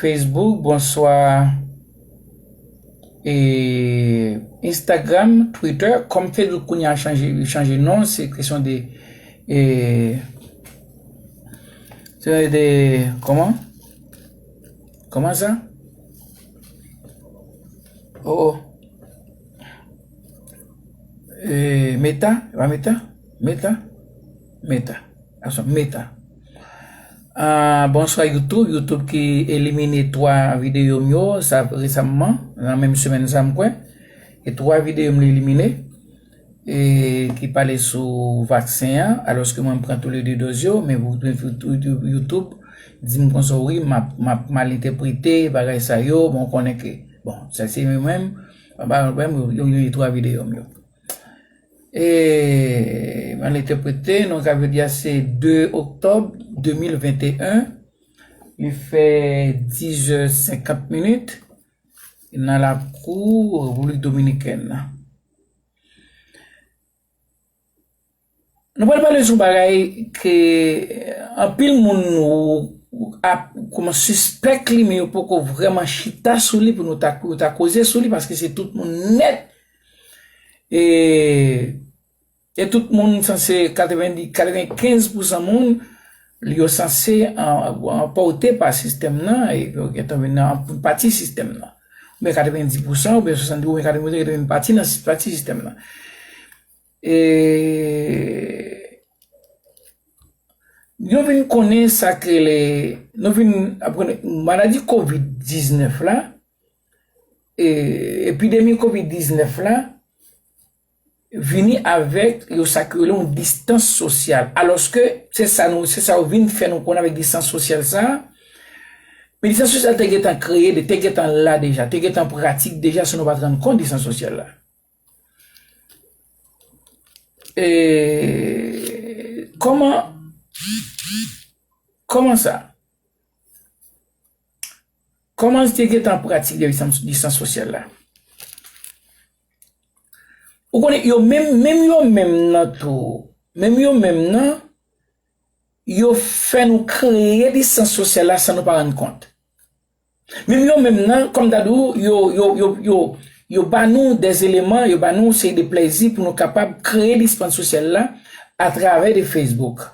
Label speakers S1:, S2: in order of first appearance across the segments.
S1: Facebook bonswa e Instagram Twitter kòm Facebook kounye a chanje li chanje non se kesyon de e se de kòman kòman sa o oh, o oh. e meta e pa meta meta meta Ason meta. Bonswa YouTube, YouTube ki elimine 3 video m yo sa resamman nan menm semèn sa m kwè. E 3 video m li elimine e ki pale sou vaksen an alòske mwen m pran tou le 2 doz yo men YouTube di m konsa wi m ap mal entèprete bagay sa yo bon konnen ke bon sa se mwen menm m pa gen pwoblèm yo elimine 3 video m yo. E mal entèprete, non sa vle di a se 2 oktòb 2021, li fè 10 zè 50 minit nan lakou Repiblik Dominikèn nan. Nou pral pale sou bagay ke anpil moun ap kouman sispèk li men yo poko vreman chita sou li pou nou ta koze sou li paske se tout moun nèt E e tout moun sanse 90 95 pousan moun li yo sanse anpòte pa sistèm nan e yo gentan vin nan anpil pati sistèm nan. Mwen 90 pousan oubyen 70 oubyen 80 pousan gentan vin pati nan pati sistèm nan. E yo vin konnen sa k rele nou vin aprann maladi covid 19 la Epidemi covid 19 la vini avèk yo sa ki rele yon distans sosyal alòske se sa nou se sa yo vin fè nou konnen avèk distans sosyal sa a men distans sosyal te gentan kreye li te gentan la deja te gentan pratik deja san nou pa t rann kont distans sosyal la kòman kòman sa. Koman li te gentan pratik distans sosyal la? Ou konnen yo menm, menm yo menm nan tou, menm yo menm nan, yo fè nou kreye distans sosyal la san nou pa rann kont. Menm yo menm nan, kòm ta di ou, yo, yo, yo, yo, yo ba nou de eleman, yo ba nou yon seri de plezi pou nou kapab kreye distans sosyal la atravè de Facebook.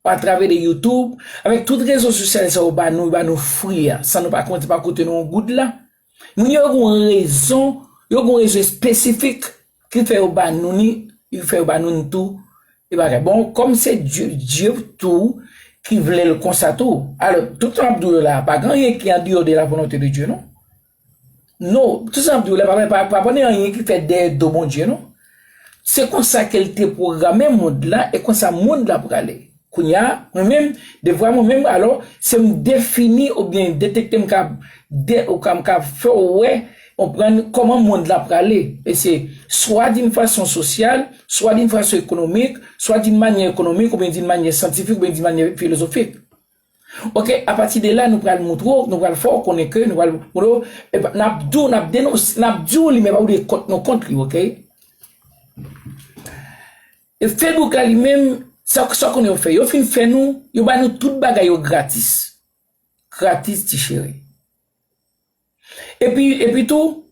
S1: A travè de youtube, avèk tout rezo sosyal sa yo ba nou, yo ba nou fri a, san nou pa konte pa koute nou yon goud la. Moun yo gen yon rezon, yo gen yon rezon espesifik ki fè yo ba nou ni, ki fè yo ba nou ni tou, e bagay. Bon, kòm se Dye, Dye tou ki vle l konsa tou. Alò, tout sa m ap di w yo la a, pa gen anyen ki andeyò de la volonte de Dye non. Non, tout sa m ap di w la pa gen anyen ki fèt dèyè do Bondye non. Se konsa ke l te pwograme mond la e konsa mond la prale. Kounye a, mwen menm, devwa mwen menm alò, se m defini oubyen detekte m kab ou ka m ka fè w wè, konprann kòman mond la prale. E se swa di yon fason sosyal, swa di yon fason ekonomik, swa di yon manyè ekonomik oubyen di yon manyè syantifik oubyen di yon manyè filozofik. Ok apati de la nou pral moutre w, nou pral fè w konnen ke nou pral moutre w, epa nap di w nap denonse, nap di w li men epa pou w di kont nou kont li ok. E Facebook la li menm sa w konnen yo fè, yo fin fè nou, yo ba nou tout bagay yo gratis, gratis ti cheri. Epi epi tou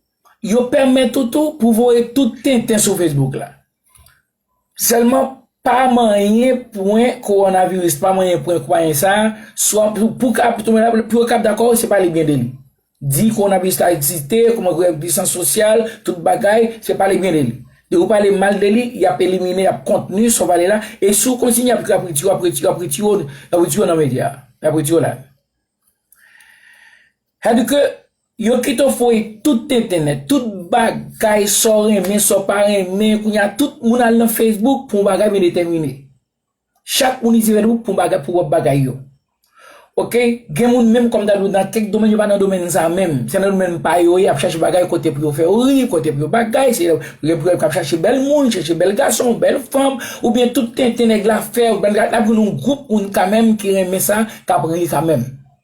S1: yo pèmèt ou tou pou voye tout tenten sou Facebook la. Sèlman pa manyen pwen kowonaviris, pa manyen pwen kwayen sa, swa pou ka pou tonbe la, pou yo kab dakò se pale byen de li. Di kowonaviris la egziste, kouman pou gen distans sosyal, tout bagay, se pale byen de li. Depi ou pale mal de li, y ap elimine, y ap kontni sa w pale la, e si w kontinye y ap retire w, y ap retire w nan medya a, y ap retire w la. Sèdike Yo pito foye tout tenten nèt, tout bagay sa w renmen, sa w pa renmen, kounye a tout moun al nan Facebook pou yon bagay byen detèmine. Chak moun itilize Facebook pou yon bagay, pou pwòp bagay yo. Ok, gen moun menm kòm ta di w nan kèk domèn yo pa nan domèn sa menm, se nan domèn pa yo ye, ap chache bagay kote pou yo fè yo ri, kote pou yo bagay, se gen pou yo kap chache bèl moun, chache bèl gason, bèl fanm, oubyen tout tenten nèg la fè, ou konprann, nap jwenn yon gwoup moun kanmenm ki renmen sa, kap ri kanmenm.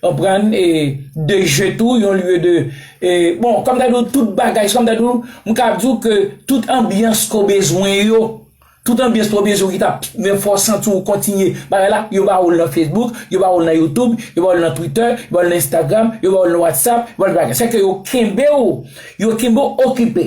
S1: Konprann e de je tou yon lye de e bon kòm ta diw tout bagay se kòm ta diw m kab diw ke tout anbyans ke w bezwen yo tout anbyans ke w bezwen ki tap men fè w santi w kontinye bagay la yo ba w l nan Facebook yo ba w l nan YouTube yo ba w l nan Twitter yo ba w l nan Instagram yo ba w l nan WhatsApp yo ba w l nan bagay sa ke yo kenbe w yo kenbe w okipe.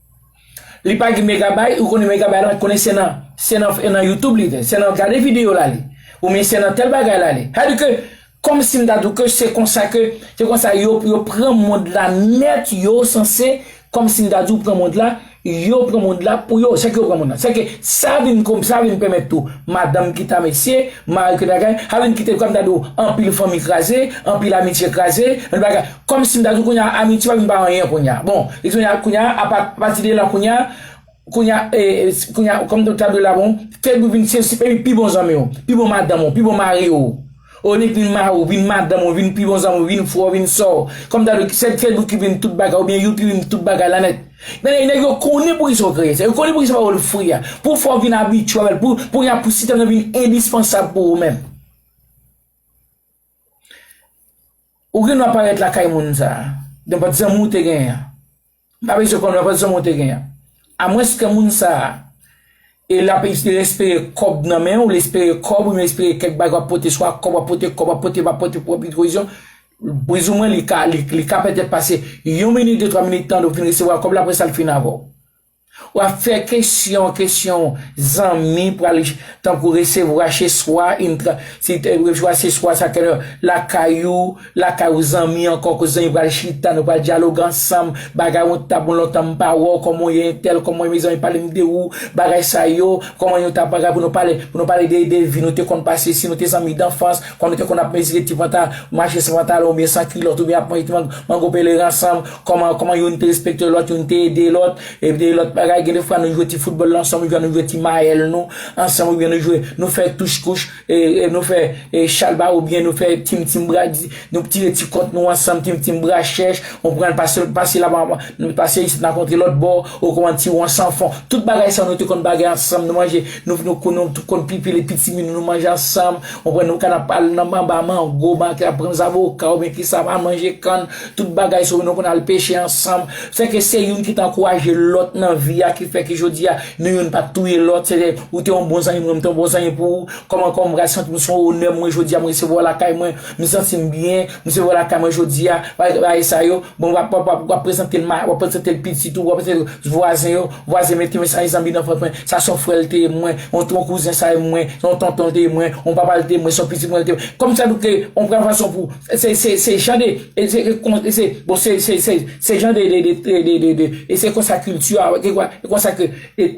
S1: Li pa gen megabay ou konnen megabay la konnen se nan se nan e nan youtube li fè se nan gade video la li ou men se nan tèl bagay la li sa di ke kòm si m ta di w ke se konsa ke se konsa yo yo pran mond la nèt yo sanse kòm si m ta di w pran mond la yo pran mond la pou yo se ke yo pran mond la se ke sa vin kòm sa vin pèmèt tou madanm ki ta mesye mari ki ta kay sa vin kite kòm ta di w anpil fanmi kraze anpil amitye kraze anpil bagay Kòmsi m ta di w kounye a amitye pa vin pa anyen kounye a. Bon, e kounye a, kounye a, apa pati de la kounye a, kounye a, e, kounye a, kòm ta di w la bon, fèk ou vin se se pami pi bon zanmi w, pi bon madanm ou, pi bon mari ou. O li vin mari w, vin madanm ou, vin pi bon zanmi w, vin frè w, vin sè w. Kòm ta di w se fèk ou ki vin tout bagay oubyen you ki vin tout bagay la nèt. Nèg nèg yo konnen poukisa yo kreye sa. Yo konnen poukisa yo ba w lfwi a. Pou w fè w vin abitye avè l. Pou kounye a pou sitèm nan vin endispansab pou ou menm. Ou gen dwa parèt lakay moun sa a, nenpòt zanmi ou te genyen an. M pa bezwen konnen nenpòt zanmi ou te genyen an. Amwens ke moun sa a, e l ap espere kòb nan men ou, li espere kòb, li espere kèk bagay w ap pote, swa kòb w ap pote, kòb w ap pote, m ap pote pou anpil pwovizyon, plizoumwen li ka pètèt pase yon minit, de twa minit tan, ou fin resevwa kòb la, apre sa l fin avè w. Wap fè kesyon kesyon zanmi pral tankou resevwa cheswa yn tran si te resvwa seswa sa kè lakay ou lakay ou zanmi ankò koz zanmi pral chita nou pral dyaloge ansanm bagay on ta bon lontan m pa wè w kòman w ye entèl kòman w ye mezanmi pale m de ou bagay sa yo kòman yon ta bagay pou nou pale pou nou pale de de vi nou te konn pase si nou te zanmi danfans kòman nou te konn ap mezire ti panta mache san pantalon oubyen san kilòt oubyen ap manje ti mango pelerin ansanm Kòman, kòman youn te respekte lòt, youn te ede lòt, e de lòt bagay. Gen de fwa nou jwe ti foutbòl la ansanm oubyen nou jwe ti mayèl nou ansanm oubyen nou jwe, nou fè touch kouch, e, e nou fè e chalbare oubyen nou fè tim tim bra di, nou tire ti kont nou ansanm tim tim bra chèch, ou pran l pase l, pase la ban, pase isit nan kontre lòt bò, ou konprann ti won san fon. Tout bagay sa yo nou te konn bagay ansanm, nou manje, nou, nou konn, nou te konn pipi le pitimi nou, nou manje ansanm, ou konprann, nou konn ap al nan anba mango, ban, pran zaboka oubyen kisa, al manje kann. Tout bagay se ou nou konn al peche ansanm, fè ke se youn ki t ankouraje lòt nan vi a ki fè ke jodi a nou youn pa t touye lòt, se te ou te yon bon zanmi pou mwen, mwen te yon bon zanmi pou ou, kòman kòman mwen ka santi m se yon onè pou mwen jodi a mwen resevwa w lakay mwen, m santi m byen, m resevwa w lakay mwen jodi a, bagay bagay sa yo, bon wap wap wap wap prezante l ma, wap prezante l pitit ou, wap prezante l vwazen yo, vwazen mwen te men sa se zanmi danfans mwen, sa se yon frè l te ye pou mwen, yon ton kouzen sa ye pou mwen, se yon tonton l te ye pou mwen, yon papa l te ye pou mwen, se yon pitit mwen l te ye pou mwen, kòm sa nou te yon pran fason pou Se jan de, bon se jan de, e se konsa kilti a, e konsa ke,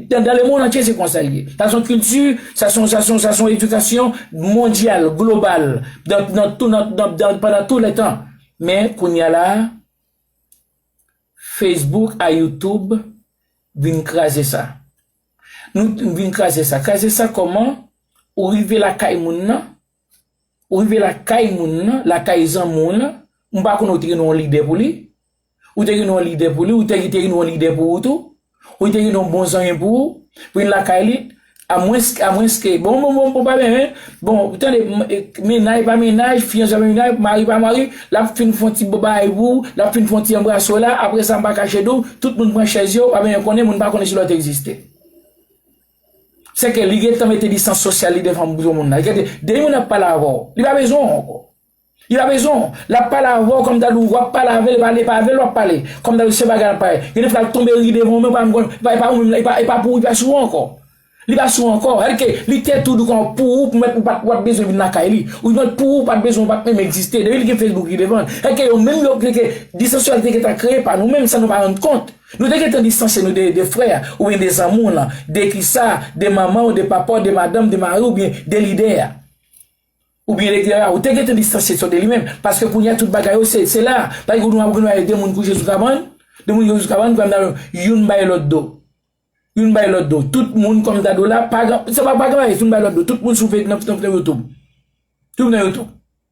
S1: dan le mond antye se konsa li ye. Sa son kilti, sa son, sa son, sa son edikasyon mondyal, global, nan tou, nan, nan, pandan tou le tan. Men, kounya la, Facebook a YouTube vin kraze sa. Nou vin kraze sa. Kraze sa kòman? Ou rive lakay moun nan. Ou rive lakay moun nan, lakay zanmi w lan, m pa konnen ou te gen yon lide pou li, ou te gen yon lide pou li, ou te gen yon lide pou ou tou, ou te gen yon bon zanmi pou ou, vin lakay li, a mwens, a mwens ke, bon, bon, bon, bon, pa byen, hein, bon, tande, mennaj pa mennaj, fiyanse pa fiyanse, mari pa mari, l ap fin fon ti babay pou ou, l ap fin fon ti anbrase w la, apre sa m pa kache di w, tout moun pran chèz yo, pa byen konnen, moun pa konnen si lòt egziste. Se ke li gentan mete distans sosyal li devan moun granmoun nan. Gade, de moun ap pale avè w, li pa bezwen w ankò. Li pa bezwen w. L ap pale avè w kòm ta di w ap pale avè l, epa e pa avè l w ap pale. Kòm ta di se bagay l ap pale. Gen de fwa l tonbe ri devan w men w pa menm konn, epa e pa ou menm, epa e pa pou ou, li pa sou ou ankò. Li pa sou ou ankò. Sa vle di ke li te tou di kon pou ou, pou mèt ou pa ou pa t bezwen vin lakay li. Ou di mèt pou ou pa t bezwen ou pa t menm egziste. Depi li gen Facebook li devan l. Sa vle di ke yo menm yo, sa vle di ke distans sosyal te gentan kreye pa nou menm san nou pa rann kont. Nou te gentan distanse nou de frè a, oubyen de zanmi w lan, de kisa, de manman w, de papa w, de madanm, de mari w, oubyen de lidè a, oubyen de tera a, ou te gentan distanse to de li menm, paske kounye a tout bagay yo se, se la a, pa gen nou ap gen nou ale de moun kouche sou kabann, de moun kouche sou kabann pral nan youn bay lòt do, youn bay lòt do, tout moun kòm ta do la, pa gen, se pa pa gen bagay, youn bay lòt do, tout moun sou fe, nan, nan youtube, tout nan youtube.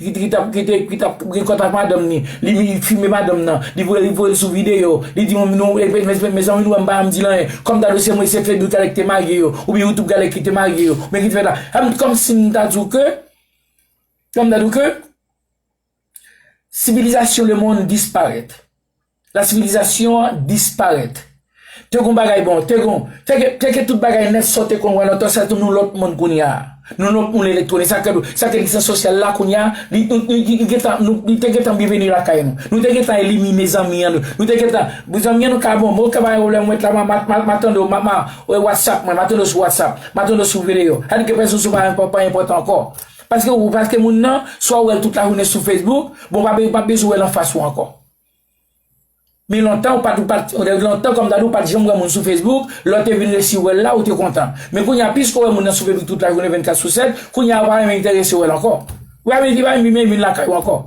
S1: Guitry tap gete epi tap gen kont ak madanm ni, li vin fime madanm nan, li voye li voyel sou video, li di moun nou epi mezanmi nou wèm pa janm di l anyen, kòm ta dwe se mwen se Fedou Talè ki te marye yo, oubyen Youtube Talè ki te marye yo, oubyen ki te fè ta, sa vin kòmsi m ta di w ke, kòm ta di w ke, sivilizasyon lemond disparèt. La sivilizasyon an disparèt. Te gon bagay bon, te gon, te gen, te gen tout bagay nèt sa w te konn wè lontan, sèl tou nou lòt moun kounye a. Nou lòt moun elektwonik, sa ke, sa ke egzistans sosyal la kounye a, li, li, li, li gen tan, nou, li te gen tan byenveni lakay nou. Nou te gen tan elimine zanmi an nou, nou te gen tan, bon zanmi an nou ka bon, bon ke pa gen pwoblèm mwen t la, ma, ma, ma, ma tande w, ma, ma, e whatsapp mwen, ma tande w sou whatsapp, ma tande w sou video. Sa di ke pèsonn sou pa, pa, pa enpòtan ankò. Paske ou, paske moun nan, swa ou wè l tout lajounen sou facebook, bon w pa, ou pa bezwen w wè l anfas ou ankò. Men lontan ou pat ou pat lontan kòm dadu ou pat janm wè moun sou Facebook, lè w te vin resi wè l la ou te kontan. Men kounye a piske w wè moun nan sou Facebook tout lajounen 24 sou 7, kounye a ou pa menm enterese wè l ankò. Ou pa menm di pa menm vin lakay ou ankò.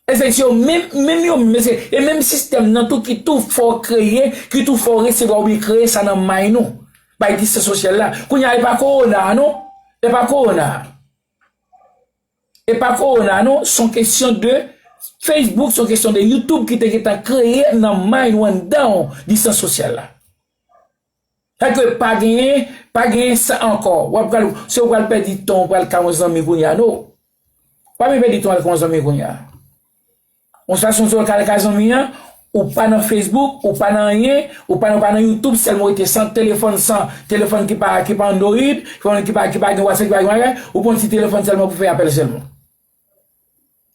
S1: Esèk se yo menm, menm yo menm se, e menm sistèm nan tou ki tou fè w kreye, ki tou fè w resevwa oubyen kreye sa nan may nou. Bay distans sosyal la. Kounye a e pa kowona a non, e pa kowona a. E pa corona non son kesyon de Facebook son kesyon de YouTube ki te gentan kreye nan mind ou anndanw distans sosyal la. Sa vle di pa genyen pa genyen sa ankò wap pral se ou pral pèdi tan ou pral ka yon zanmi kounya no. Pa vin pèdi tan al ka yon zanmi kounya. Yon swa sonson yo kal ka zanmi an, ou pa nan Facebook, ou pa nan anyen, ou pa nan YouTube sèlman ou rete san telefòn, san telefòn ki pa ki pa Android, telefòn ki pa ki pa gen WhatsApp, ki pa gen bagay, ou pran ti telefòn sèlman pou fè apèl sèlman.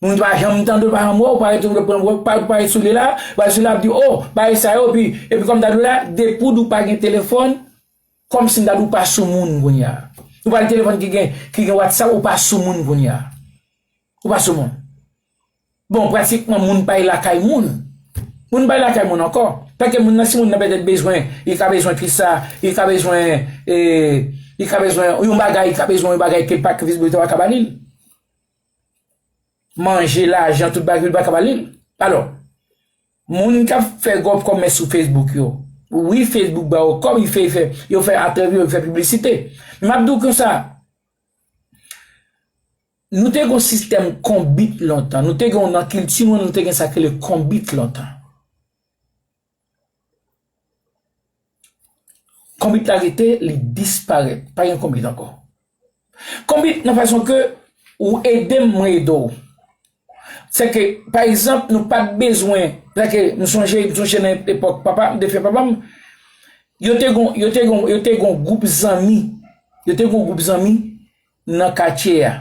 S1: Moun pa janm tande ou pa janm wè ou, ou pa rete pran ou pa rete sou li la, ou pa rete sou li la ap di w o, bagay sa yo epi, epi kòm ta di w la, depi w pa gen telefòn, kòm si m ta di w pa sou moun kounye a. Ou pa gen telefòn ki gen ki gen WhatsApp ou pa sou moun kounye a. Ou pa sou moun. Bon pratikman moun bay lakay moun. Moun bay lakay moun ankò. Paske moun nan si moun nan pètèt bezwen, li ka bezwen kit sa, li ka bezwen e, li ka bezwen yon bagay, li ka bezwen yon bagay ke pa ke li pa ka ba li. Manje, lajan, tout bagay li pa ka ba li. Alò, moun k ap fè gwo kòmès sou Facebook yo, wi Facebook ba yo kòb, yo fè atèvi, yo fè piblisite. M ap di w konsa. Nou te gen yon sistèm konbit lontan. Nou te gen nan kilti nou an, nou te gen sa ki rele konbit lontan. Konbit la rete, li disparèt. Pa gen konbit ankò. Konbit nan fason ke ou ede m, mwen ede w. Se ke, pa egzanp, nou pa t bezwen, se ke m sonje, m sonje nan epòk papa m, defen papa m, yo te gen yon gwoup zanmi, yo te gen yon gwoup zanmi, nan katye a.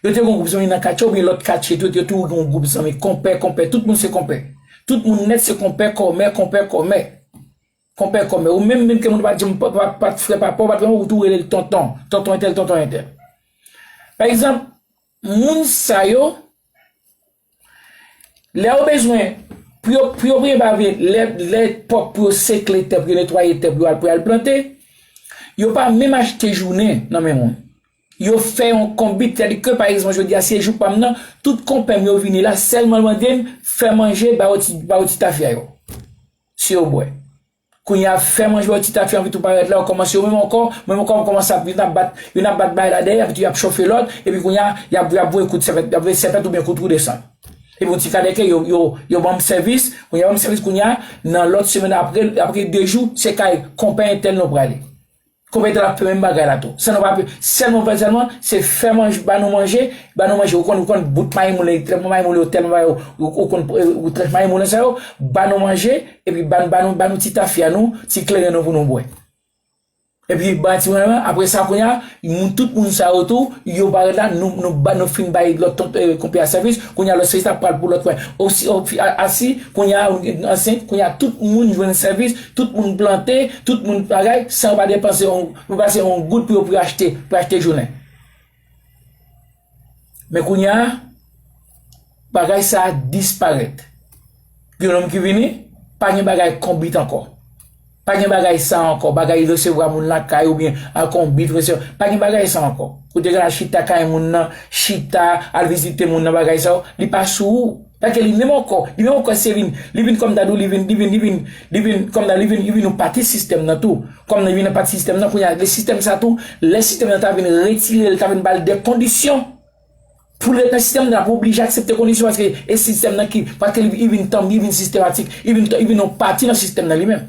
S1: Yo te gen yon gwoup zanmi nan katye a oubyen lòt katye tou, yo toujou gen yon gwoup zanmi konpè, konpè, tout moun se konpè. Tout moun nèt se konpè, kòmè, konpè, kòmè. Konpè, kòmè. Ou menm menm ke moun pa janm pa t frè papa w, pa t mèm ou tou rele l tonton, tonton entèl, tonton entèl. Pa egzanp, moun sa yo. Lè yo bezwen, pou yo pou yo premye bagay yo vle, lè lè pwòp pou yo sekle tè pou yo netwaye tè pou yo al pou yo al plante, yo pa menm achte jounen nan men moun. Yo fè yon konbit, sètadi ke pa egzanp jodi a se jou pa m nan, tout konpè m yo vini la sèlman mande m fè manje ba yo ti ba yo ti tafya yo. Si yo bwè. Kounye a fè manje baw ti tafi anpi tou parèt la yo kòmanse yo menm ankò menm ankò yo kòmanse ap youn ap bat youn ap bat bay la dèyè anpi tou yap chofe lòt epi kounye a yap yap voye kout sèpèt yap voye sèpèt oubyen kout wou desann epi yon ti kadèke yo yo yo banm sèvis kounye a yo banm sèvis kounye a nan lòt semèn apre apre 2 jou se kay konpè entèl nou prale. Konpè etan ap fè menm bagay la tou. Sa nou pa p sèlman fè sèlman, se fè manj ba nou manje, ba nou manje ou konn ou konn bout maymoule, trètman maymoule yo tèlman ba yo ou konn ou trèt maymoule sa yo, ba nou manje epi ba ba nou ba nou ti tafya nou, ti kleren nou pou nou bwè. Epi ba ti mwen aprè sa kounya moun tout moun sa yo tou yo parèt la nou nou ba nou fin bay lòt ton konpè a sèvis kounya lòt sèvis la pral pou lòt mwen osi o fi a si kounya ou ansent kounya tout moun jwenn sèvis Tout moun plante, tout moun k bagay, san yo pa depanse yon, yo pa pase yon goud pou yo pou yo achte, pou yo achte jounen. Men kounya, bagay sa a disparèt. Gen lòm ki vini, pa gen bagay konbit ankò. Pa gen bagay sa a ankò, bagay resevwa moun lakay ou byen al konbit, resevwa, pa gen bagay sa a ankò. Kote gen al chita kay moun nan, chita, al vizite moun nan bagay sa yo, li pa sou ou. Paske li menm ankò, li menm ankò se vin, li vin kòm ta di w li vin, li vin, li vin, li vin, kòm ta di w li vin, li vin yon pati sistèm nan tou. Kòm li vin yon pati sistèm nan, kounye a, gen sistèm sa tou, lè sistèm nan ta vin retire l, ta vin ba l dè kondisyon pou l ret nan sistèm nan, l ap oblije aksepte kondisyon paske e sistèm nan ki, paske li vin tanbi, li vin sistematik, li vin, li vin yon pati nan sistèm nan li menm.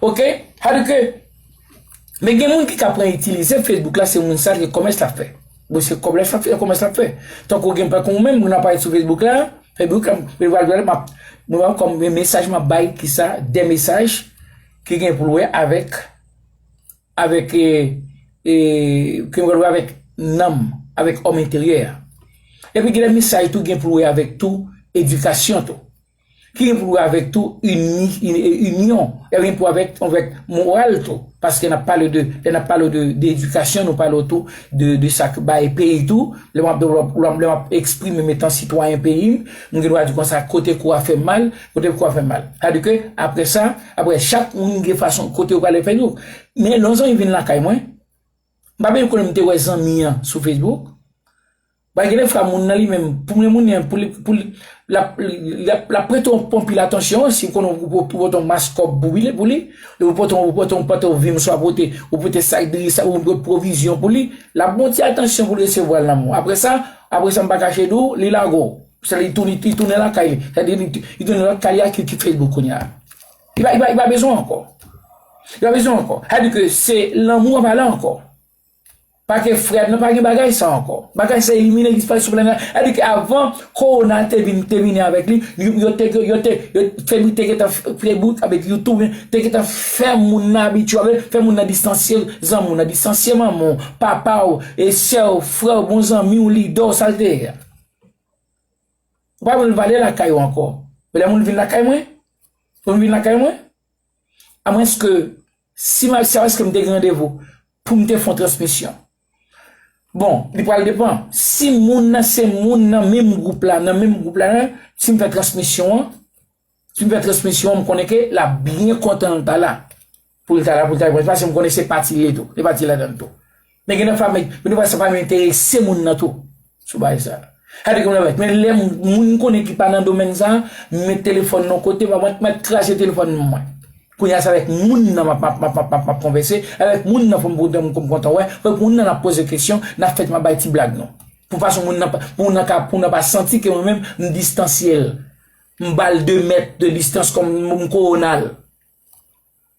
S1: Ok sa vle di ke men gen moun ki ka pran itilize Facebook la se moun sa ki komès lap fè bon se kob lap fè komès lap fè tankou gen pè kon menm moun ap pale sou Facebook la Facebook la mwen pral gade map mwen wè kom gen mesaj map bay ki sa de mesaj ki gen pou l wè avèk avèk e e ki gen pou l wè avèk nanm avèk òm enteryè a epi gen de mesaj tou gen pou l wè avèk tou edikasyon tou. ki gen pou wè avèk tou inyon, e gen pou wè avèk tou avèk moral tou, paske nan pale de, lè nan pale de de edikasyon nou pale tou de de sa k bay peyi tou, lè map do lè map eksprime'm etan sitwayen peyi'm, m gen dwa di konsa kote kou a fè mal, kote kou a fè mal. Sa di ke aprè sa, aprè chak moun gen fason kote yo prale fè yo. Men lè yon zanmi vin lakay mwen, m pa menm konnen m te wè zanmi an sou Facebook, Bay genlè fra moun nan li menm pou mwen moun nen pou lap prete w anpil atansyon si w konnen w pou pote yon mas kòb pou li pou li ou pote yon pantalon vin swa pote ou pote sak diri sa ou pote pwovizyon pou li lap gen yon ti atansyon pou l resevwa l nan men w aprè sa aprè sa m pa kache di w li lago se li tounen li tounen lakay li sa di li tounen lòt kay li a ki ki Facebook kounye a li pa bezwen w ankò li pa bezwen w ankò sa di ke se lanmou an pale ankò Pake frèm nan pa gen bagay sa ankò. Bagay sa elimine disparèt sou planèt la. Sa vle di ke avan kowona te vin temine avèk li, yo te gen yo te febri te gentan febri avèk you tou te gentan fè moun nan abitye avèl, fè moun nan distansye zanmi w nan, distansye manman w, papa w, e sè w, frè w, bon zanmi w, lidè w sa l te ye a. Ou pa wè l pa ale lakay ou ankò. Men lè moun vin lakay mwen, moun vin lakay mwen. A mwens ke, si m al CR èske m te gen randevou pou m te fon transmisyon? Bon, li pral depan. Si moun nan se moun nan menm gwoup la, nan menm gwoup la, si m fè transmisyon an, si m fè transmisyon an m konnen ke l ap byen kontan l ta la. Pou l ta la pou l ta repons paske m konnen se pati li tou, li pati ladan l tou. Men gen nan fanmi, men nou wè sa pa menm enterese moun nan tou sou bagay sa. Sa vle di konn avèk men lè moun m konnen ki pa nan domèn sa, m met telefòn nan yon kote pa mwen mèt kraze telefòn mwen. Kounye a se avèk moun nan map map map map map konvèse, avèk moun nan fò m pou m pou m kontan wè, avèk moun nan n ap poze kesyon, n ap fèt m ap bay ti blag nou. Pou fason moun nan pa pou moun nan ka pou moun nan pa santi ke mwen menm m distansye l. M ba l 2 mèt de distans kòm m kowona l.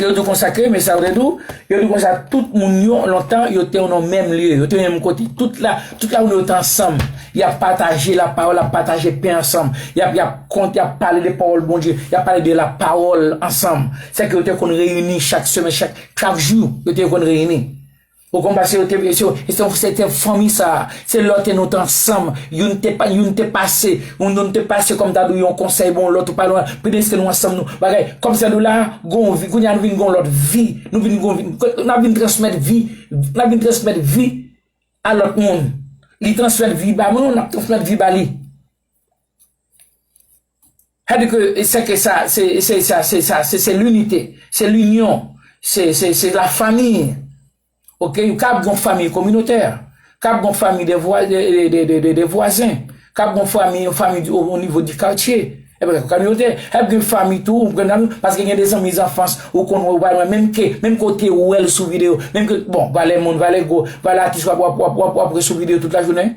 S1: Yo di konsa ke, men sa ou te di ou, yo di konsa tout moun yo lontan yo te nan menm lye, yo te menm kote, tout la, tout la moun yo te ansanm, y ap pataje la pawòl, y ap pataje pen ansanm, y ap, y ap kont, y ap pale de pawòl Bondye, y ap pale de la pawòl ansanm. Sèke yo te konn reyini chak semen, chak jou, yo te konn reyini. Ou konprann sa se yo te se yo se yo se te fanmi sa se lè te nou t ansanm youn te pa youn te pase youn youn te pase kòm ta di yon konsèy bon lòt ou pa lwen preske nou ansanm nou bagay kòm sa nou la gon vi kounya nou vin gon lòt vi nou vin gon vi n ap vin transmèt vi n ap vin transmèt vi a lòt moun li transmèt vi ba mwen nou n ap transmèt vi ba li Sa di ke se ke sa, se se sa, se sa, se se linite, se linyon, se se se la fami. Ok, kab gon fami kominotè, kab gon fami de vwa de de de de de vwazen, kab gon fami yon fami di o nivo di katye, e byen kominote, ap gen fami tou, ou konnenl, paske gen de zanmi zanfans ou konn wè ou pa wè menm ke, menm ke w te wè l sou videyo, menm ke, bon, valè moun, valè gwo, valè atis wap wap wap wap wap wè sou videyo tout lajounen.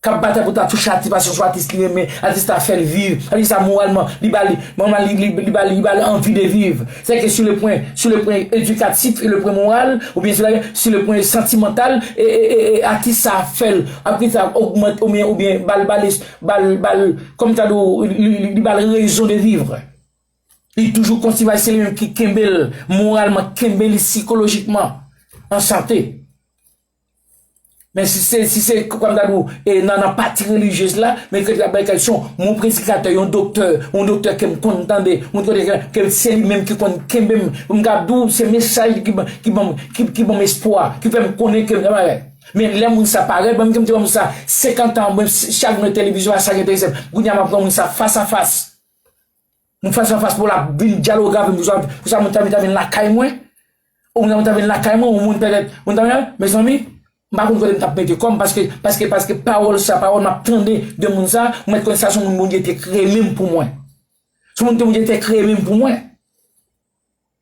S1: kap batay pou ta touche atis paske se yon atis li renmen, atis la fèl viv, atis la moralman li bal manman li li bal li bal anvi de viv, se ke sou le pwen sou le pwen edikatif e le pwen moral ou byen sou le pwen santimantal e e e e atis sa fèl atis sa ogmante ou byen ou byen bal bal es bal bal kòm ta do li bal rezon de vivr li toujou kontivay se li menm ki kenbel moralman, kenbe li sikolojikman an sante. Men si se, si se, kòm m ta di w, e nan nan pati relijyez la, men kèk la bay kèk son, yon predikatè, yon doktè, yon doktè ke m konn tande, yon doktè ke, ke se li menm ki konn kenbe m, pou m kab di w se mesaj li ki ban, ki ban m, ki ban m espwa, ki fè m konnen ke m nan bagay. Men lè moun sa parèt ban m, ke m te wè moun sa 50 tan, mwen chak mwen televizyon a sa ki enterese m, kounye a m ap wè moun sa fas a fas. Nou fas an fas pou la vin dyaloge avèm pou sa pou sa moun ta vin ta vin lakay mwen. Ou moun ta vin ta vin lakay mwen, ou moun pèdèt moun ta vin mezanmi m pa konn kote m t ap mete kò m paske paske paske pawòl sa pawòl m ap tande de moun sa ou mèt konn sa se yon moun Bondye te kreye menm pou mwen. Se yon moun te Bondye te kreye menm pou mwen.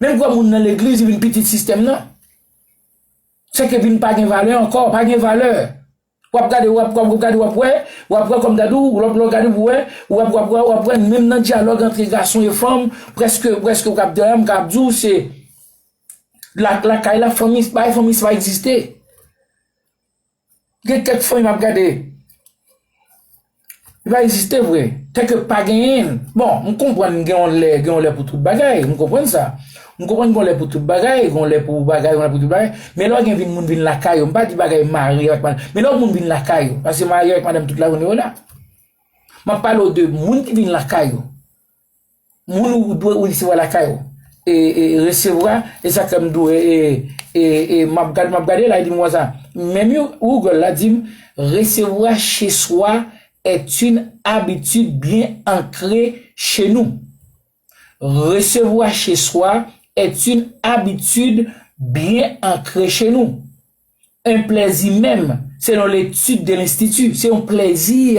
S1: Menm vwa moun nan legliz vin pitit sistèm nan. Sèke vin pa gen valè ankò, pa gen valè. Wap gade, wap wè, wap gade, wap wè, wap wè kòm gade ou, lòp lò gade ou wè, wap wap wè, wap wè, menm nan dyalòg antre gason e fanm, prèske, prèske ou kap dèyè m kap di ou se lakay la fanmi, bay fanmi sa pa egziste. Gen kèk fanmi map gade li pa egziste vre, kèk yo pa genyenl, bon m konprann gen yon lè gen yon lè pou tout bagay m konprann sa, m konprann gen yon lè pou tout bagay, gen yon lè pou bagay gen yon lè pou tout bagay, men lè w gen vin moun vin lakay yo m pa di bagay marye ak madanm, men lè moun vin lakay yo, paske marye ak madanm tout lajounen yo la, map pale w de moun ki vin lakay yo. Moun ou dwe ou resevwa lakay ou e e resevwa e sak fèm dou e e e map gad map gade la e dim wè sa menm yo Google la dim resevwa che swa est une habitude bien ancrée chez nous resevwa che swa est une habitude bien ancrée chez nous un plaisir menm selon l'étude de l'institut se yon plèzi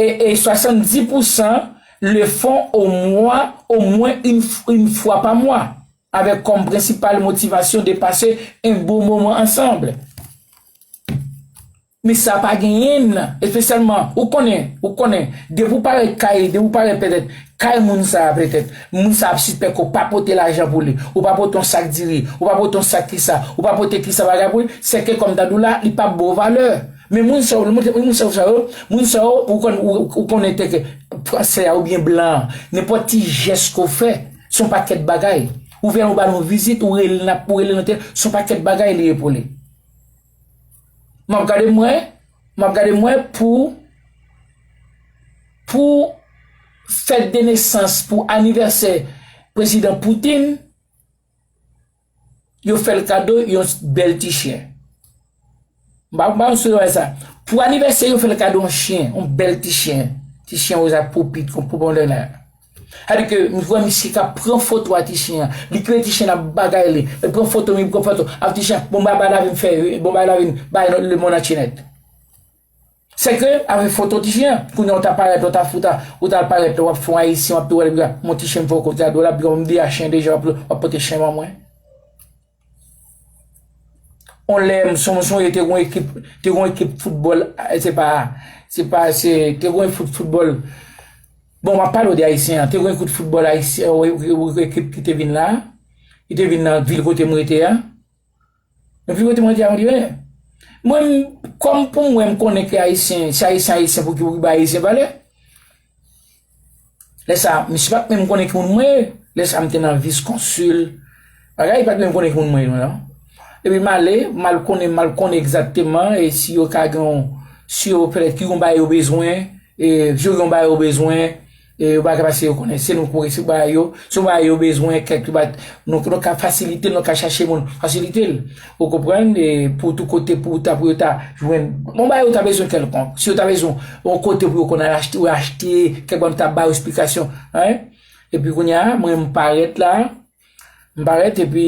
S1: E 70 pousan le fon o mwa o mwen yn fwa pa mwa, avèk kòm prensipal motivasyon de pase yn bon moman ansanbl. Men sa pa genyenn, espesyalman, ou konnen, ou konnen, depi ou parèt kay, depi ou parèt pètèt kay moun sa a pètèt, moun sa a ap sispèk ke ou pa pote lajan pou li, ou pa pote yon sak diri, ou pa pote yon sak kisa, ou pa pote kisa bagay pou li, sèke kòm ta di w la, li pa bo valè. Men moun sa yo, lè montre moun sa yo sa yo, moun sa yo ou konn ou konnen te ke fransè a ou byen blan an, nenpòt ti jès ke w fè, son pakèt bagay. Ou vè yon ba nou vizit, ou rele nan ou rele nan tè, son pakèt bagay li ye pou li. M'ap gade mwen, m'ap gade mwen pou pou fèt de nesans, pou anivèsè prezidan Poutine, yo fè l kado yon bèl ti chyen. M pa konn si w wè sa. Pou anivèsè yo fè l kado yon chyen, yon bèl ti chyen. Ti chyen woz ak po pit, yon po pondènè. Sadi ke m wè misye ka pran foto a ti chyen an. Li kwe ti chyen an ap bagay li. Li pran foto, li pran foto. Ap ti chyen an, bon bagay lavi m fè, bon bagay lavi m bay lemonn antye nèt. Sèke avè foto ti chien an kounya ou ta parèt ou ta fout a ou tal parèt lè wap fon ayisyen wap tou wèl bgy mon ti chien m fè w kot gade w la bgy m deja chien deja wap pote chien ban mwen on lè m son m sonje te gon ekip te gon ekip foutbòl se pa se pa se te gon ekip foutbòl bon map pale w de ayisyen an te gon ekip foutbòl ayisyen ekip ki te vin la ki te vin nan vil kote m rete a. Yo vin wete mwen di a mwen di men mwen kòm pou mwen m konnen ke ayisyen se ayisyen ayisyen pou ki pou ki bay ayisyen valè. Lè sa misye pat menm konnen ki moun mwen ye. Lè sa m te nan vis konsil bagay li pat menm konnen ki moun mwen ye non. Epi m ale m al konnen m al konnen egzakteman e si yo ka gen yon si yo pètèt ki yon bagay yo bezwen e si yo gen yon bagay yo bezwen. E yo paka pase yo konnen se nou kore si yo bay yo, si yo bay yo bezwen kèk yo bat nou pou nou ka fasilitel nou ka chache moun fasilitel ou konprann e pou tou kote pou ta pou yo ta jwenn bon bagay yo ta bezwen kèlkonk si yo ta bezwen yon kote pou yo konn al achte yo achte kèk bagay m ta ba yo esplikasyon hein epi kounya mwen m parèt la m parèt epi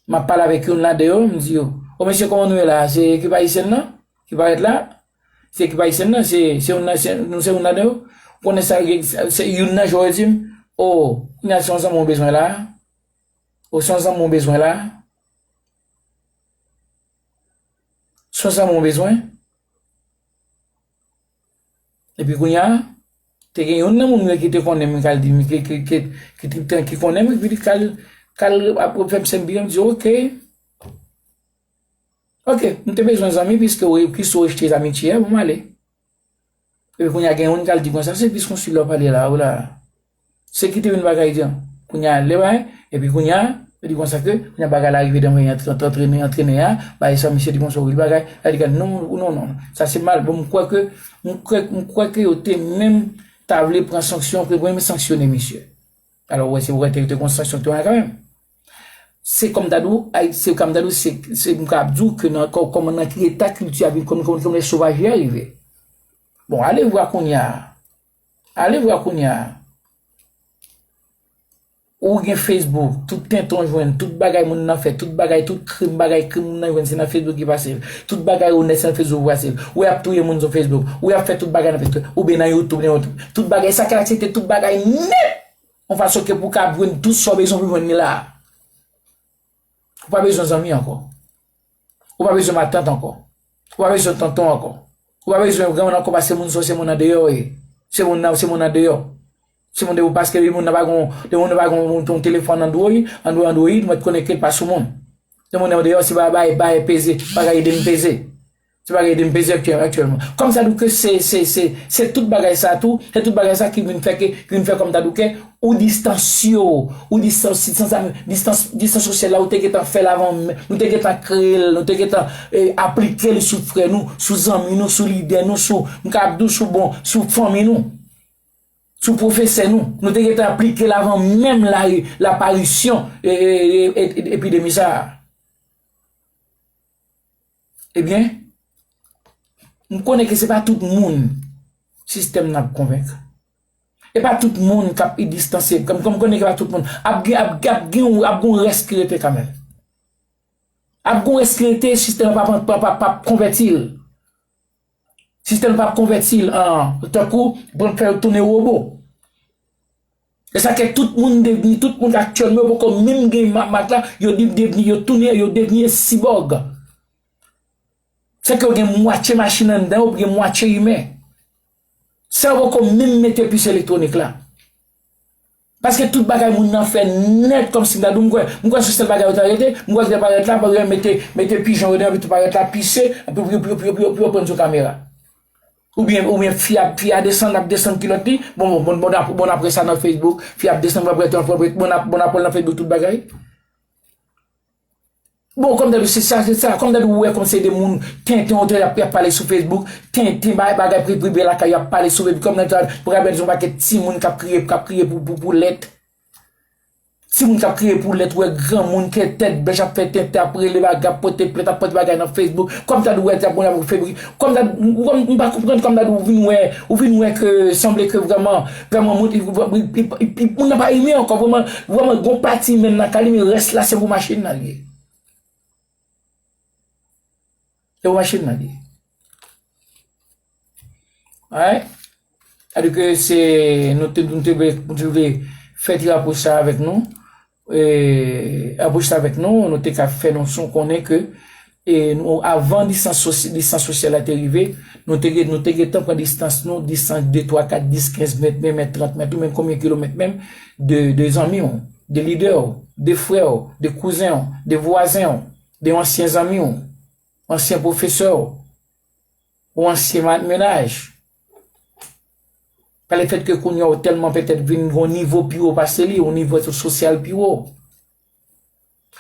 S1: m ap pale avèk youn ladan yo m di yo o mesye kòman nou ye la se ekip ayisyen nan ki parèt la. Se ekip Ayisyen nan, se youn nan se nou se youn ladan yo? Ou konnen sa se youn nan jwè yo di m? O, kounye a se yon zanmi ou bezwen la a? O, se yon zanmi ou bezwen la a? Se yon zanmi ou bezwen? Epi kounye a, te gen youn nan moun yo ki te konnen m ki al di m, ki konnen m, ki te al ap fè m sèm byen, m di ok. Ok, m te bezwen zanmi piske ou plis ou rejte zamitye, bon m ale. E koun ya gen yon kal di kon sa, se plis kon si lò pale la, ou la. Se kite yon bagay di an. Koun ya le bay, e pi koun ya, e di kon sa ke, yon bagay la rive denwen yon antrene, antrene a, ba yon sa misye di kon sa ou vil bagay, a di kan non, ou non non. Sa se mal, bon m kwè ke, m kwè ke yo te menm ta vle pran sanksyon, pou yo menm sanksyone misye. Alò wè se wè te rete gon sanksyon te wè kan menm. Se kòm ta dou, ayiti se kòm ta dou se se m ka ap dou ke nan kò kòman nan ki eta kilti a vin kòm kòm kòm lè sovaji a rive. Bon ale vwa kounya. Ale vwa kounya. Ou gen Facebook, tout tenton jwenn, tout bagay moun nan fè, tout bagay, tout krim bagay krim moun nan jwenn se nan Facebook ki pase l. Tout bagay onèt se nan Facebook ki pase l. Ou y ap touye moun sou Facebook. Ou y ap fè tout bagay nan Facebook. Ou byen nan YouTube nan yon tout. Tout bagay sa ki aksepte tout bagay nèt yon fason ke pou kab jwenn tout sa w bezwen pou jwenn li la. Ou pa bezwen zanmi ankò. Ou pa bezwen matant ankò. Ou pa bezwen tonton ankò. Ou pa bezwen granmoun ankò paske moun sa w se moun andeyò w ye. Se moun nan se moun andeyò. Se moun de paske moun nan pa gon de moun nan pa gon yon telefòn andwoy andwoy andwoyid mwen t konnen ke l pa sou moun. De moun nan deyò se bay bay peze bagay ede m peze. Se pa gen dempeze aktyèlman. Kòm tadouke se tout bagay sa tou, se tout bagay sa ki vin fè ke, ki vin fè kòm tadouke, ou distanse yo, ou distanse, distanse sosyal la ou te gentan fè l avan, nou te gentan kreye l, nou te gentan aplike l sou frè nou, sou zanmi nou, sou lidè nou, sou, m ka ap di w sou bon, sou fanmi nou, sou pwofesè nou, nou te gentan aplike l avan menm laparisyon epidemi sa a. Ebyen, m konnen ke se pa tout moun sistèm nan ap konvenk. E pa tout moun k ap idistansye, m konnen ke pa tout moun, ap gen, ap gen yon, ap gen yon rès ki rete kanmenm. Ap gen yon rès ki rete, sistèm nan pa p, pa p, pa p konvèti l. Sistèm nan pap konvèti l an tankou bank fè yo tounen wobo. E sa ke tout moun devni, tout moun aktyèlman yo poko menm gen mak la, yo devni, yo tounen, yo devni sibòg. Se ke yo gen mwatye machin anndan yo, gen mwatye imen. Sa yo poko menm mete pis elektwonik la. Paske tout bagay moun nan fè nèt kòmsi m'ta di w m'kwè, m'kwè se sèl bagay yo ta rete, m'kwè se parèt la, parèt mete mete pijon yo deyò epi tou parèt la pise, epi pou yo pou yo pou yo pou yo prann sou kamera. Oubyen oubyen fi a fi a desann l'ap desann kilòt li, bon bon bon bon bon n'ap wè sa nan Facebook, fi a ap desann bon ap wè bon ap wè nan Facebook tout bagay. Bon kòm dèbi se sa se sa, kòm dèbi ou wè kòm se de moun tenten ou te y ap pale sou Facebook, tenten bay bagay priprive lakay yo ap pale sou Facebook kòm dèbi sa ou pral wè son pakèt timoun k ap kriye k ap kriye pou pou pou lèt, timoun k ap kriye pou lèt ou wè granmoun ki tèt bèch ap fè tenten ap rele bagay ap pote plent ap pote bagay nan Facebook kòm sa ou wè sa kòm sa ou m pa konprann kòm sa ou vin wè ou vin wè ke sanble ke vrèman Vreman mwen te moun nan pa rinmin ankò vreman vreman gon pati menm nan kali men rès la se pou machin nan liye se pou machin nan liye wè sa vle di ke se nou te nou te vle fè ti rapò sa avèk nou Anbouche sa avèk nou, nou te ka fè nou son konnen ke nou avan distans sosyal la te rive, nou te gentan pran distans nou, distans 2, 3, 4, 10, 15 mèt, 20 mèt, 30 mèt, ou menm konbyen kilomèt menm, de zanmi ou, de lidè ou, de frè ou, de kouzen ou, de vwazen ou, de yon ansyen zanmi ou, ansyen pwofesè ou, ou ansyen mennaj. Pa le fèt ke kounye a ou tèlman petèt vin gon nivo pi wo pase li, yon nivo sosyal pi wo.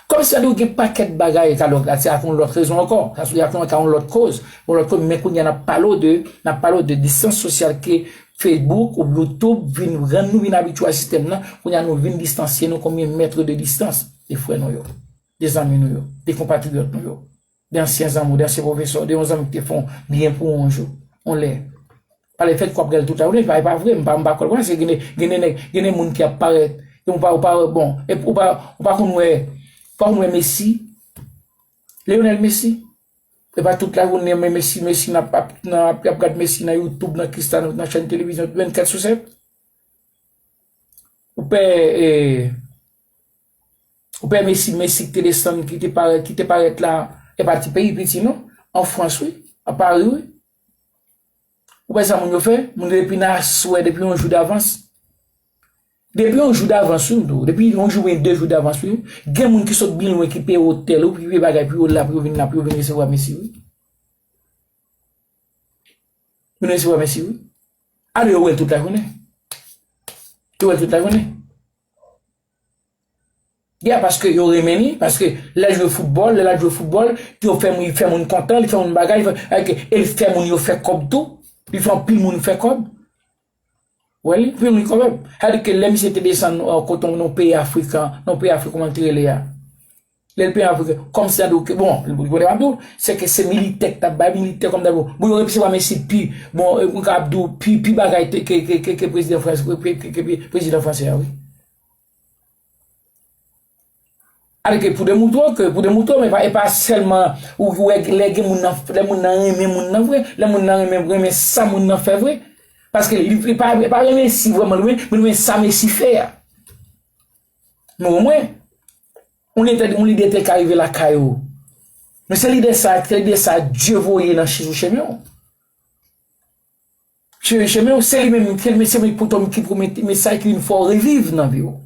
S1: Kòm sa di ou gen pakèt bagay ka lòt la, se ak yon lòt rezon ankò, sa sou ak yon lòt koz, yon lòt koz, men kounye a n'ap pale w de, n'ap pale w de distans sosyal ke Facebook ou YouTube vin rann nou vin abitye a sistèm nan, kounye a nou vin distansye nou konbyen mètre de distans de frè nou yo, de zanmi nou yo, de konpatriyòt nou yo. De ansyen zanmi w, de ansyen pwofesè w, de yon zanmi ki te fè w byen pou yon jou, yon lè. Pale fèt kou ap rele toutan. Ou di, e pa vre, m pa kwè l. Paske gen de, gen de nèg, gen de moun ki ap parèt, e ou pa, ou pa wè bon. E ou pa, ou pa konn wè, ou pa konn wè Messi. Lionel Messi. E pa tout la joune li renmen Messi, Messi nan, ap nan, ap gad Messi nan YouTube, nan Cristiano, nan chèn televizyon 24 sou 7. Ou pè e. Ou pè Messi, Messi ki te desann, ki te parèt, ki te parèt la, e pa ti peyi piti non, an Frans wi, a Pari wi. Ou pè sa moun yo fè, moun yo depi nan aswè, depi yon jou davans. Depi yon jou davans wi m di w, depi yon jou oubyen 2 jou davans wi, gen moun ki sot byen lwen ki peye otèl ou, ki peye bagay pou yo la, pou yo vin la, pou yo vin resevwa Messi wi. Vin resevwa Messi wi. Alò yo wè l tout lajounen. Yo wè l tout lajounen. Yeah paske yo renmen li, paske lè l jwe foutbòl, lè l ap jwe foutbòl, yo fè moun, li fè moun kontan, li fè moun bagay, li fè ok, e li fè moun yo fè kòb tou, li fè anpil moun fè kòb. Wè li, anpil moun fè kòb. Sa vle di ke lè misye te desann kote yon peyi afrikan, yon peyi afrikan kòman li te rele a? Lè l peye avwe ke kòm se ado ke bon, li konnen map di w, se ke se militè k tap bay militè kòm dabo. Bon yo repisewa men si pi bon mwen ka ap di w pi pi bagay te ke ke ke ke prezidan frans ke ke ke prezidan franse a wi. Avè ke pou demoutwe w ke pou demoutwe w men e pa sèlman ou ki wè lè gen moun nan lè moun nan renmen moun nan vre, lè moun nan renmen renmen sa moun nan fè vre. Paske li pa li pa renmen si vreman li renmen men renmen sa men si fè a. Men o mwen, yon lide, yon lide te ka rive lakay ou. Men se lide sa, se lide sa Dye voye nan chizou chemen ou. Chizou chemen ou, se li menm, se li menm, se li menm ki pote, ki pote yon mesaj ki vin fè ou reviv nan vi ou.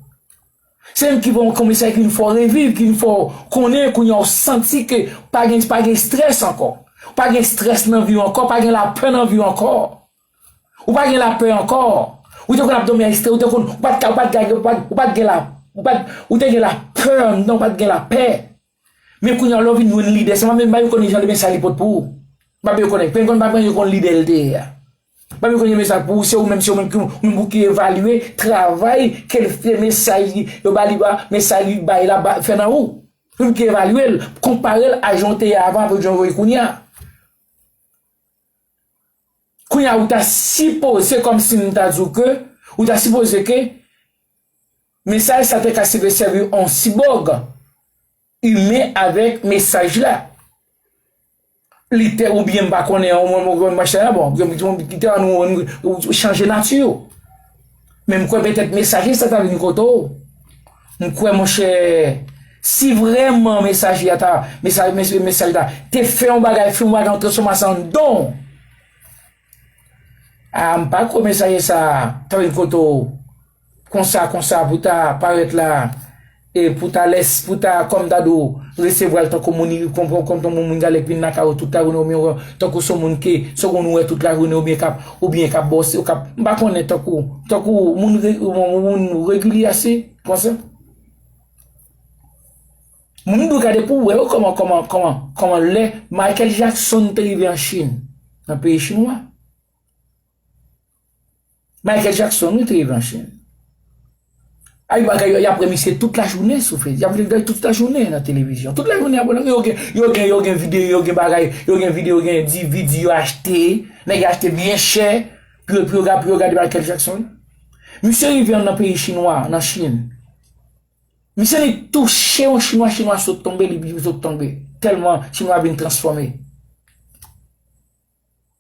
S1: Se li menm ki pote yon mesaj ki vin fè ou reviv, ki vin fè ou konnen kounye a ou santi ke pa gen, pa gen strès ankò. Pa gen strès nan vi ou ankò, pa gen lapè nan vi ou ankò. Ou pa gen la peur ankò. Ou te konn ap domi a estre, ou te konn, ou pat ka, ou pat ka, ou pat gen la, ou pat, ou te gen la peur anndan, ou pat gen la pè. Men kounye a lè w vin jwenn lidè sa, mwen menm m pa menm konnen jan li men sa li pot pou ou. M pa menm konnen. Pingon pa menm konnen lidè l te ye a. M pa menm konnen men sa pou ou, se ou menm, se ou menm ki, ou menm pou ki evalye travay ke l fè, mesaj li, yo ba li ba, mesaj li bay la ba, fè nan ou. Ou menm ki evalye l, konpare l a jan w te ye avan avèk jan w ye kounye a. Kounye a ou ta sipoze, se kòm si m ta di w ke, ou ta sipoze ke mesaj sa te ka seve sèvi yon sibòg imen avèk mesaj la. Li te ou byen m pa konnen an, mwen m pa konnen machin la bon, byen m te an nou chanje nati yo. Men m kwè petèt mesaje sa ta vin kote w, m kwè monchè si vrèman mesaje a ta, mesa, mesye mesaj la te fè yon bagay, fè yon bagay yon transfòmasyon anndan w, a m pa kwè mesaje sa ta vin kote w konsa konsa pou ta parèt la. E pou ta les pou ta kòm ta do resevwal tankou moun iri kon kon tankou moun gale k vin lakay ou tout la jounen oubyen wè tankou son moun ke son moun ou wè tout la jounen oubyen kap oubyen kap ba w se kap m pa konnen tankou tankou moun re moun regilye ase konsa. Moun m dwe gade pou wè yo kòman kòman kòman kòman lè Michael Jackson te rive an Chine nan peyi chinwa. Michael Jackson wi te ye nan chen. Ay bagay yo yap remisye tout la jounen sou fez. Yap vin vèy tout la jounen nan televizyon. Tout la jounen yap vin yo gen yo gen yo gen vide yo gen bagay yo gen vide yo gen di vide yo achte. Nèg yo achte byen chè pou yo pou yo pou yo gade Michael Jackson. Misye rive yon nan peyi chinwa nan chine. Misye li tou che yon chinwa chinwa sot tonbe li bi sot tonbe. Telman chinwa vin transfòme.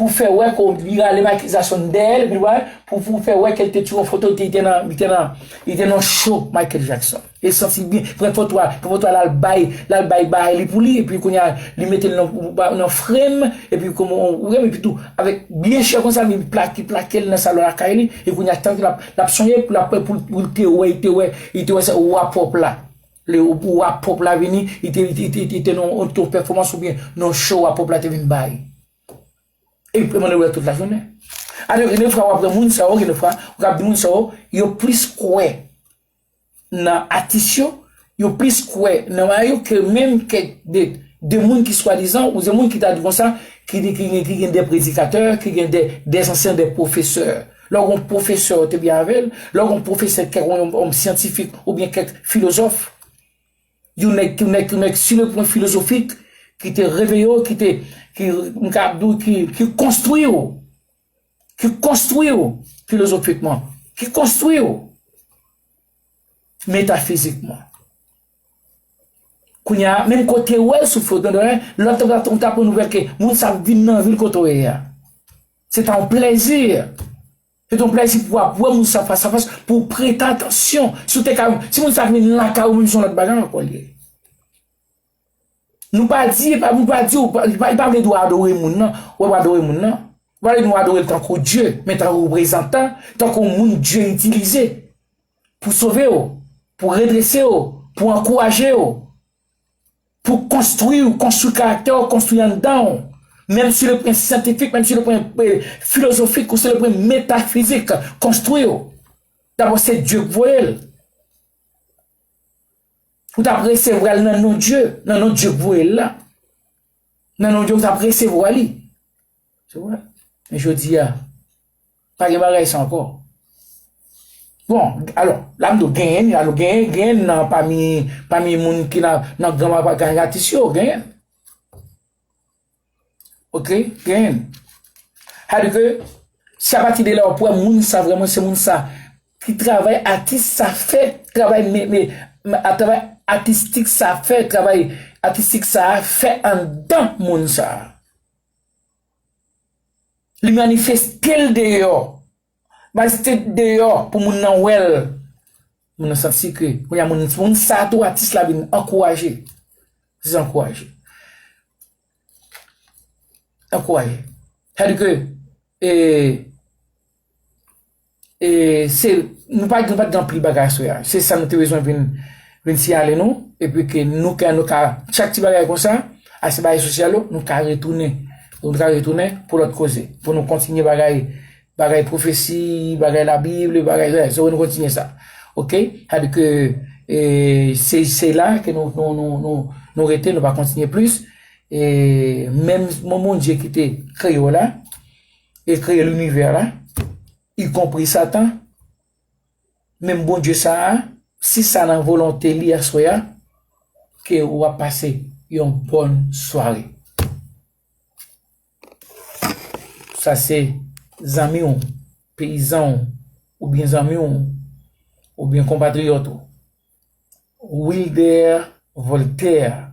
S1: pou fè wè ke w li rale m akizasyon n dèyè l epi wè pou pou fè wè ke l te tiré yon foto li te nan li te nan li te nan show Michael Jackson e santi l byen pran foto a pran foto a l al bay l al bay bay li pou li epi kounye a li mete l nan nan frame epi kouman ou wè m epi tou avèk byen chè konsa li plake plake l nan salon lakay li e kounye a tank l ap l ap sonje l ap wè pou l te wè li te wè li te wè sa ou a pwòp la le ou a pwòp la vini li te li te li te nan yon pèfòmans oubyen nan yon show ou a pwòp la te vin bay. Epi pèman de lwè tout lajounen. Alò gen de fwa w'ap wè moun sa yo, gen de fwa ou kab di moun sa yo, yo plis kwè nan atis yo, yo plis kwè nan bagay yo ke menm kèk de de moun ki swadizan ou de moun ki ta di konsa ki di ki gen ki gen de predikatè, ki gen de de zansèn, de pwofesè. Lè ou gon pwofesè ou te byen avè l, lè ou gon pwofesè kèk ou yon syantifik oubyen kèk filozòf. Yon nèg ki nèg yon nèg sur le plan philosophique ki te reveye w ki te ki m ka ap di w ki ki konstwi w ki konstwi w filozofikman ki konstwi w metafizikman kounye a menm ke w te wè l sou foto de lwen lè w ta ou ta pran nouvèl ke moun sa ap vin nan vil kote w ye a se ta yon plezi Se te yon plèzi pou ap wè moun sa fas a fas, pou w prete atansyon. Si w te ka, si moun sa te vin lakay ou menm se yon lòt bagay ankò li ye. Nou pa di, e pa nou pa di w, li pa vle di w adore moun nan, wè w adore moun nan. Li pa vle di w adore l tankou Dye, men tankou reprezantan, tankou yon moun Dye itilize pou sove w, pou redrese w, pou ankouraje w. Pou konstwi ou, konstwi karaktè ou, konstwi anndan ou. Menm si le pwen syantifik, menm si le pwen filozofik ou si le pwen metafizik, konstwi ou. Dabò se Dye k voye l. Ou ta presevwa l nan non Dye, nan non Dye k voye l la. Nan non Dye ou ta presevwa li. Se vre. Men jodi a. Pa gen bagay sa ankò. Bon, alò, la m di w, genyen ni la, nou genyen, genyen nan pami, pami moun ki nan, nan gran mwa pagay atis yo, genyen. Ok, genyen. Sa di ke, se apati de la w ap wè moun sa vreman se moun sa ki travay atis sa fè, travay me, me, a travay atistik sa fè, travay atistik sa fè anndan moun sa. Li manifeste l deyò. Manifeste l deyò pou moun nan wè l. Moun nan santi ke kounye a moun sa a tou atis la vin ankouraje. Se sa ankouraje. Ankouraje. Sa vle di ke e. E se, nou pa gen pat gen anpil bagay aswè a. Se sa nou te bezwen vin, vin siyale nou. E pi ke nou ka, nou ka, chak ti bagay konsa, a se bagay sosyal yo, nou ka retounen. Nou ka retounen pou lòt koze. Pou nou kontinye bagay, bagay pwofesi, bagay labib, le bagay zè. Se pou nou kontinye sa. Ok? Sa di ke, e, se, se la ke nou, nou, nou, nou, nou rete, nou pa kontinye plis. E, menm, menm Bondye ki te kreye w la. E kreye linivè la, ikonpri satan, menm Bondye sa a, si sa nan volonte li aswè a, ke ou ap pase yon bòn sware. Sa se zanmi ou, peyizan ou, oubyen zanmi ou, oubyen konpatriyòt ou, Wilder Voltaire.